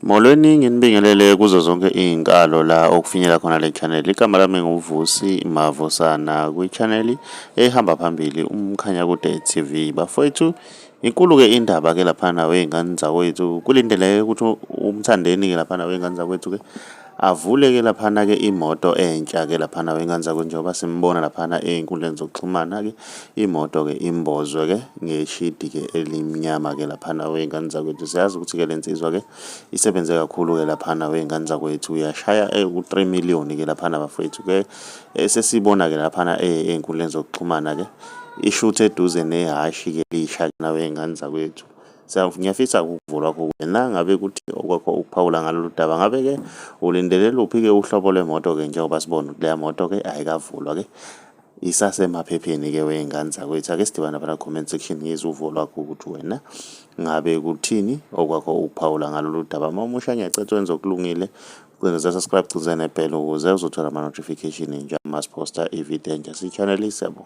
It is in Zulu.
Molweni nginibingelele kuzo zonke iy'nkalo la okufinyela khona le channel igama lami nguvusi mavusana kwi-channel ehamba phambili umkhanya kude tv bafowethu inkulu-ke indaba ke laphana wey'ngane zakwethu kulindeleke ukuthi umthandeni-ke laphana wey'ngane zakwethu-ke avule ke laphana ke imoto entsha ke laphana wenganza kunjengoba simbona laphana ezinkundleni zokuxhumana ke imoto ke imbozwe ke ngeshidi ke elimnyama ke laphana wenganza kwethu siyazi ukuthi ke lensizwa ke isebenze kakhulu ke laphana wenganza kwethu uyashaya eh, ku 3 million ke laphana bafethu ke eh, sesibona ke laphana eh, ezinkundleni zokuxhumana ke ishuthe eduze nehashi ke lisha nawe ingane zakwethu Ngiyafisa ukuvo lwakho wena ngabe kuthi okwakho ukuphawula ngalolu daba. Ngabe-ke ulindele luphi-ke uhlobo lwemoto-ke njengoba sibona ukuthi leya moto-ke ayikavulwa-ke isasemaphepheni-ke wey'ngane zakwethu. Ake sidibane lapha na-comment section ngizwe uvo lwakho ukuthi wena ngabe kuthini okwakho ukuphawula ngalolu daba. Uma umusha ngiyacetha wenza okulungile cindeza subscribe cindeza nebhele ukuze uzothola ama-notification nje uma siphosta ividiyo enje siyichanelise bo